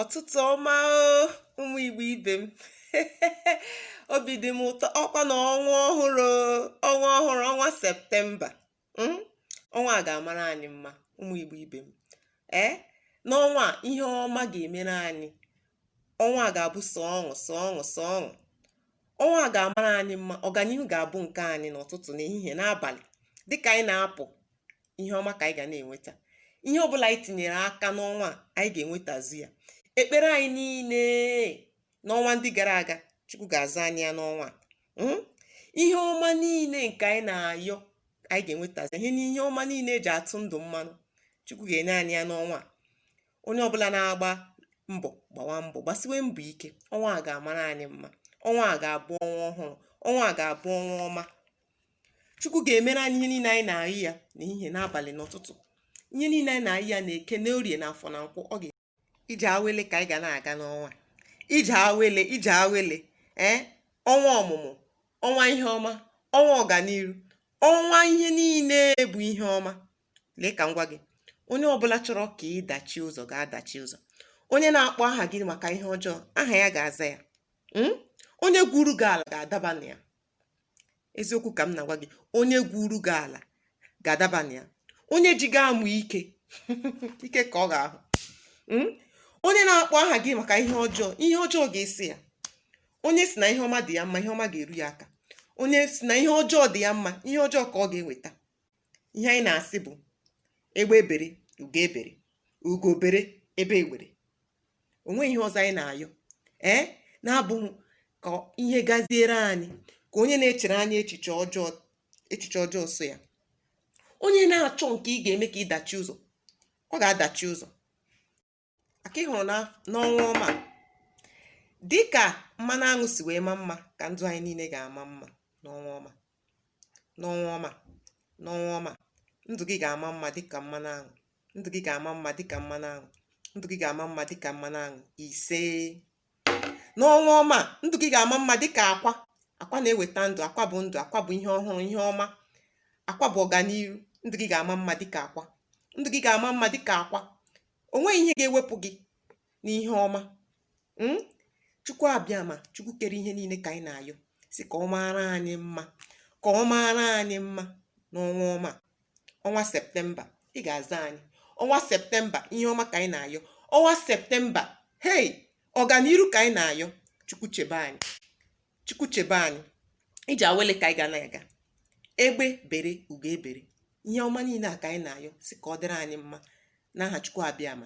ọtụtụ ọma ụmụ igbo ibe m obi dị m ụtọ ọkwa na ọnwa ọhụrụ ọnwa ọhụrụ ọnwa septemba hmm? ọnwa a ga-amara anyị mma ụmụ igbo ibe m ee n'ọnwa a ihe ọma ga-emere anyị ọnwa a ga-abụ sọ ọṅụ sọ ọṅụ sọ ọṅụ ọnwa a ga-amara anyị mma ọganihu ga-abụ nke anyị n'ụtụtụ n'ehihie n'abalị dịka anyị na-apụ ihe ọma ka anyị ga na-enweta ihe ọbụla anyị tinyere aka n'ọnwa a anyị ga-enwetazi ya ekpere anyị niile n'ọnwa ndị gara aga chukwu ga-aza anyị ya n'ọnwa a hmm? ihe ọma niile nke anyị na-ayọ anyị ga-enwetazi ihe ọma niile eji atụ ndụ mmanụ chukwu ga-enye anyị ya n'ọnwa a onye ọbụla na-agba mbọ gbawa mbọ gbasiwe mbọ ike ọnwa a ga-amara anyị mma ọnwa a ga-abụ ọnwa ọhụrụ ọnwa a ga-abụ ọnwa ọma chukwu ga-emere anyị ihe niile anyị na-ayọ ya n'ehihie n'abalị n'ụtụtụ ihe niile anyị na-ayọ ya na eke na orie na afọ na nkwọ ije awele ka anyị ga na-aga n'ọnwa a ije awele ije awele ee ọnwa ọmụmụ ọnwa ihe ọma ọnwa ọganiru ọnwa ihe niile bụ ihe ọma lee ka m gwa gị onye ọbụla chọrọ ka ị dachi ụzọ ga-adachi ụzọ onye na-akpọ aha gị maka ihe ọjọọ aha ya ga-aza ya hmm? onye gwuru gị ala ga-adaba na ya eziokwu ka m na-agwa gị onye gwuru gị ala ga-adaba na ya onye ji gị amụ ike ike ka ọ ga-ahụ hmm? onye na-akpọ aha gị maka ihe ọjọọ ihe ọjọọ ga-eso ya onye si na ihe ọma dị ya mma ihe ọma ga-eru ya aka onye si na ihe ọjọọ dị ya mma ihe ọjọọ ka ọ ga-enweta ihe anyị na-asị bụ egbe bere ugo ebere ugo bere egbe ebere o nweghị ihe ọzọ anyị na-ayọ ee na-abụghị ka ihe gaziere anyị ka onye na-echere anyị echiche ọjọọ echiche ọjọọ so ya onye na-achọ nke ị ga-eme ka ị dachi ụzọ ọ ga-adachi ụzọ aka ị hụrụ n'ọnwa ọma dịka mmanụ aṅụ si wee maa mma ka ndụ anyị niile ga-ama mma n'ọnwa ọma N'ọnwa ọma, n'ọnwa ọma, ndụ gị ga-ama mma dịka mmanụ aṅụ. Ndụ gị ga-ama mma dịka mmanụ aṅụ. Ndụ gị ga-ama mma dịka mmanụ aṅụ. Ise. N'ọnwa ọma, ndụ gị ga-ama mma dịka akwa. Akwa na-eweta ndụ. Akwa bụ ndụ. Akwa bụ ihe ọhụrụ, ihe ọma. Akwa bụ ọganiru. Ndụ gị ga-ama mma dịka akwa. Ndụ gị ga-ama mma dịka akwa. O nweghị ihe ga-ewepụ gị n'ihe ọma mm? chukwu abịama chukwu kere ihe niile ka anyị na-ayọ si ka ọ maara anyị mma ka ọ maara anyị mma n'ọnwa ọma ọnwa septemba ị ga-aza anyị ọnwa septemba ihe ọma ka anyị na-ayọ ọnwa septemba hei ọganiru ka anyị na-ayọ chukwu chebe anyị chukwu chebe anyị ije awele ka anyị ga na-aga egbe bere ugo ebere ihe ọma niile a ka anyị na-ayọ si ka ọ dịrị anyị mma n'aha chukwu abịama